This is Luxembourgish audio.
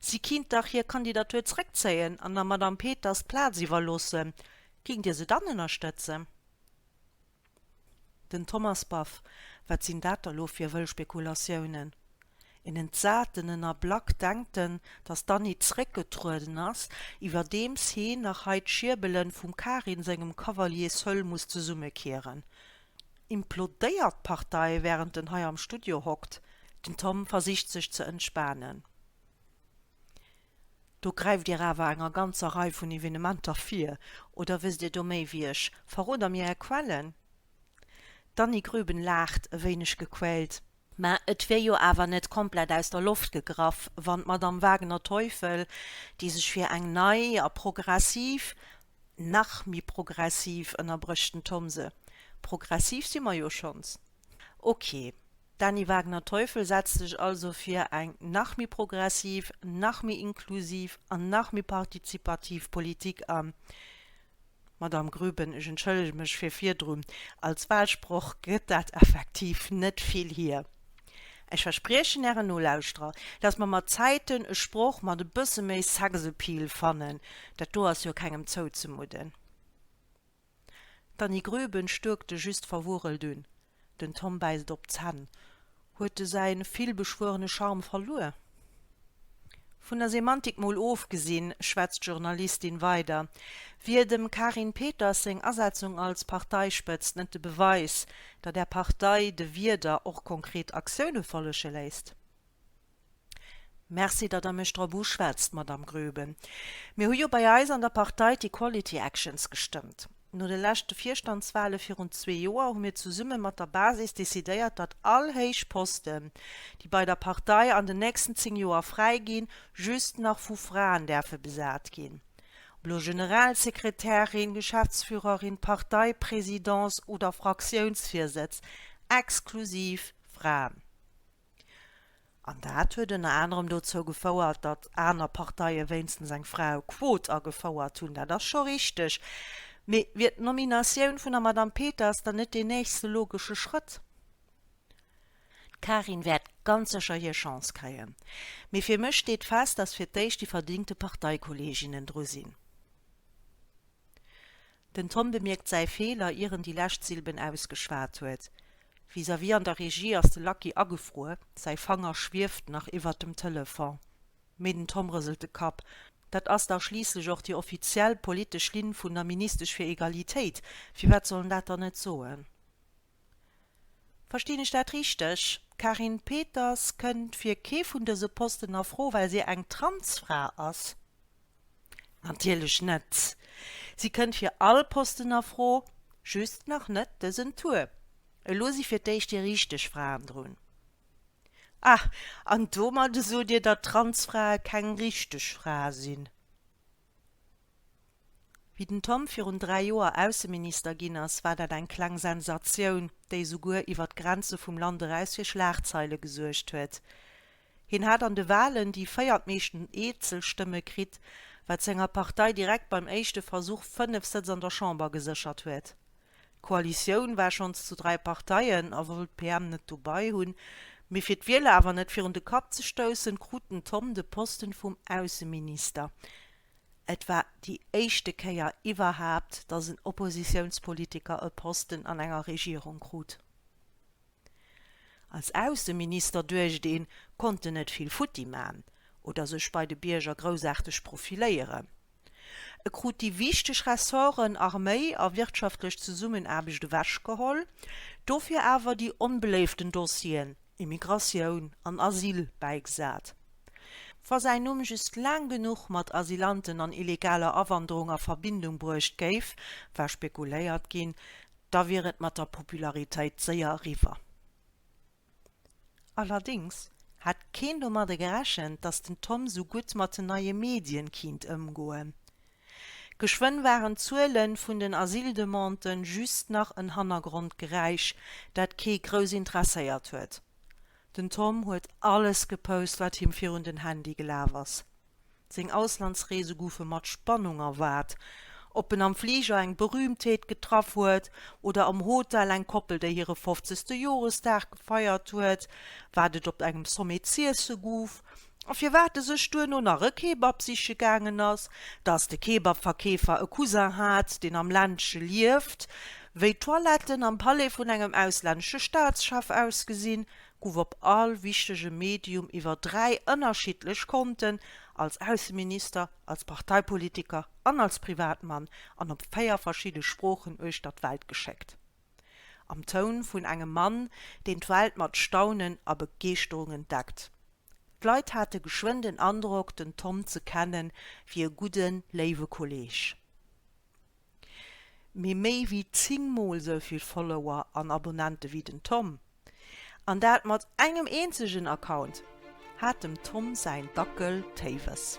Si kinnt dach hir Kandidatur zréckzéien an der Madame Peters d'Plaz iwwerloossen. Géingt Dir se dann ënnerstëtzen? Den Thomas Baff, Wat sinn dat da lo fir wëll Spekulatiounen? En entsaten Ënnerblack, Denkt en, datt d'Annie zréckgetrueden ass, iwwerdeems heen nach hei d'Schierbele vum Karin sengem Cavalier Seul muss zesummekieren? Implodéiert d'Partei wärend en hei am Studio hockt? Den Tom versicht sech ze entspanen. Do gräift dir awer enger ganzer Rei vun Evenementer vir. Oder wësst dir do méi wéi ech? Verroder mir är Quellen? D'Dany Grüben laacht e wéineg gequält. Mä et wier jo awer net komplett aus der Loft gegraff, wann d'Madamm Wagner-Teufel, déi sech fir eng nei a progressiv, nach méi progressiv, ënnerbrécht den Thomse. Progressiv si mer jo schonns. Okay, d'Dany Wagner-Teufel setzt sech also fir eng nach méi progressiv, nach méi inklusiv an nach méi partizipativ Politik an. Madamm Grüben, ech entschëllege mech fir virdrun. Als Wahlsproch gëtt dat effektiv net vill hier. Ech verspriechen Ären Nolauschterer, dass mer mat Zäiten e Sproch mat e bësse méi Sexappeal fannen. Dat do ass jo kengem zouzemudden. D'Annie Grüben stuerkte just verwurrelt un. Den Tom bäisst op d'Zänn. Huet de säin villbeschwuerene Charme verluer? Vun der Semantik mol ofgesinn, schwätzt d'Journalistin weider, wier dem Karin Peters seng Asetzung als Parteispëtzt net de Beweis, datt Är Partei de Wierder och konkret Aktioune follege léisst. Merci, datt Der mech drop uschwätzt, Madamm Groeben. Mir hu jo bei eis an der Partei d'Equality Actions gestëmmt. No de leschte Virstandswale virun zwee Joer hu mir zesumme mat der Basis decidéiert, datt all héich Posten, déi bei der Partei an den nächsten zéng Joer fräi ginn, just nach vu Fraen däerfe besat ginn. Ob elo Generalsekretärin, Geschäftsführerin, Parteipresidence oder Fraktiounsvirsëtz, exklusiv Fraen. An dat huet ënner anerem dozou gefouert, datt aner Parteie wéinstens eng Fraequot agefouert hunn. Dat ass scho richteg. Mee wier d'Nominatioun vun der Madame Peters dann net deen nächste logesche Schrëtt? D'Karin wäert ganz sécher hir Chance kréien. Mee fir mech steet fest, datt fir d'éischt déi verdingte Parteikolleeginnen dru sinn. Den Tom bemierkt säi Feeler ier en déi lescht Silben ausgeschwat huet. Vis-à-vis an der Regie ass de Lucky agefruer, säi Fanger schwieft nach iwwert dem Telefon. Mee den Tom rëselt de Kapp. Dat ass dach schliisslech och déi offiziell politesch Linn vun der Ministesch fir Egalitéit, firwat soll en dat dann net soen? Verstinn ech dat richteg, d'Carine Peters kënnt fir kee vun dëse Posten a Fro, well si eng Transfra ass? Natierlech net! Si kënnt fir all Posten a Fro, just nach net dësen Tour. Elo si fir d'éischt déi richteg Fraen drun. Ah, an domadde sot Dir, datt Transfrae keng richteg Frae sinn? Wéi den Tom virun dräi Joer Ausseminister ginn ass, war dat eng kleng Sensatioun, déi esouguer iwwer d'Grenze vum Land eraus fir Schlagzeile gesuergt huet. Hien hat an de Walen déi véiertmeeschten Eenzelstëmme kritt, wat senger Partei direkt beim éischte Versuch fënnef Sëtz an der Chamber geséchert huet. D'Koalitioun war schonns zu dräi Parteien a wollt d'PM net dobei hunn, mee fir d'Wieler awer net virun de Kapp ze stoussen, krut den Thom de Posten vum Ausseminister. Et war déi éischte Kéier iwwerhaapt, datt en Oppositiounspolitiker e Posten an enger Regierung krut. Als Ausseminister, duecht een, konnt en net vill futti man oder sech bei de Bierger groussaarteg profiléieren. E krut déi wichteg Ressorten Arméi a wirtschaftlech Zesummenaarbecht ewechgeholl, dofir awer déi onbeléiften Dossieren Immigratioun an Asyl bäigesat. Wa säin Numm just laang genuch mat Asylanten an illegaler Awanderung a Verbindung bruecht géif, war spekuléiert ginn, da wier et mat der Popularitéit séier eriwwer. Allerdéngs hätt keen domadde gerechent, datt den Tom esou gutt mat den neie Medien kinnt ëmgoen. Geschwënn waren d'Zuele vun den Asyldemandë just nach en Hannergrondgeräisch, dat kee grouss interesséiert huet. Den Tom huet alles gepost, wat him virun den Handy gelaf ass. Seng Auslandsreese goufe mat Spannung erwaart. Ob en am Fliger eng Berühmtheet getraff huet oder am Hotel eng Koppel, déi hire fofzegste Joresdag gefeiert huet, wat et op engem Sommet z'iesse gouf a firwat e sech duerno nach e Kebab siche gaangen ass, dass de Kebabverkeefer e Cousin hat, deen am Ländche lieft, wéi d'Toiletten am Palais vun engem auslännesche Staatschef ausgesinn, gouf op all wichtege Medium iwwer dräi ënnerschiddlech Konten, als Ausseminister, als Parteipolitiker an als Privatmann, an op véier verschidde Sproochen uechter d'Welt geschéckt. Am Toun vun engem Mann, deen d'Welt mat Staunen a Begeeschterung entdeckt. D'Leit hate geschwënn den Androck, den Tom ze kennen, wéi e gudden, léiwe Kolleeg. mee méi wéi 10 mol sou vill Follower an Abonnente wéi den Tom, an dat mat engem eenzegen Account, hat dem Tom säin Dackel Téiwes.